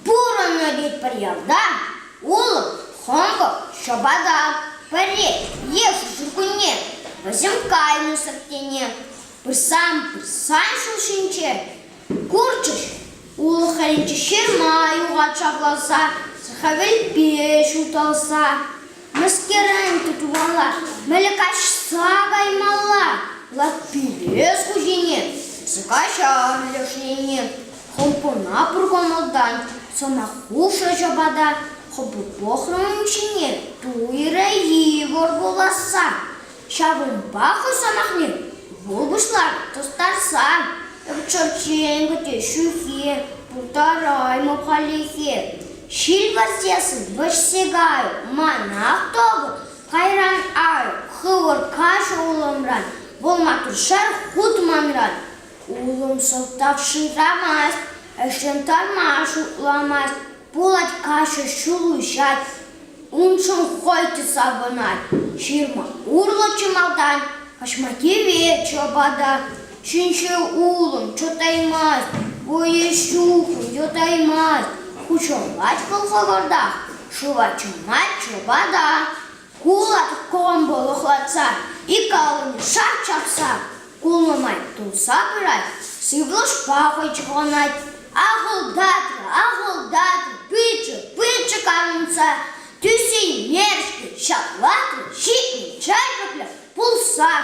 Пурӑннӑ вӗт пӗр ялта улӑп, хӑнкӑх, ҫӑпата. Пӗрре йышши ҫуркунне вӗсем кайнӑ-сӑр тене пырсан пырсан ҫул ҫинче курчӗҫ. Улӑх хӗрринче ҫырма юхать ҫакласа, сахавӗлпе ҫуталса. Мӗскерен тытмалла, мӗле каҫса каймалла, лаппипес хуҫине, каҫар лешине, хӑлпана пур кӑмӑлтан, сӑмаххуша ҫапата, хӑпӑ пӑхрӑм ҫине, туйрӗ Егор вуласса. Ҫавӑнпа хӑй сӑмахне вӑл пуҫлать тустарса. Чӑн-чӑн кӗтӳ ҫӳхе, пултараймӑп халлӗхе. Ҫилвӗрсес вӗҫсе кай, манах тӑкӑн, кайран ай, хывӑр каҫ улӑмран, вӑл матуршар хут манран. Улӑм сӑлтав шырамасть, ӗҫӗм тарма шутламасть. Пулать каҫӑ ҫул уҫать, уншӑн хӑй савӑнать. Ҫырма урлӑ чӑмалтан каҫма кивет ҫӑпата. Ҫинҫе улӑм чӑтаймасть, вӑйӗ-ҫухӑм йӑтаймасть. Хуҫӑлать вӑл хӑвӑртах, шыва чӑмать ҫӑпата. Кулак комбо лӑхлатса, ик аллине шарт чакса, кулнӑ май тулса пырать, сывлӑшпа хӑйчӑкланать. Ахӑлтатрӗ, ахӑлтатрӗ, пычӗ, пычӗ карӑнса, тӳсеймешкӗн ҫаклатрӗ, ҫитнӗ чай пӗплӗ пулсан.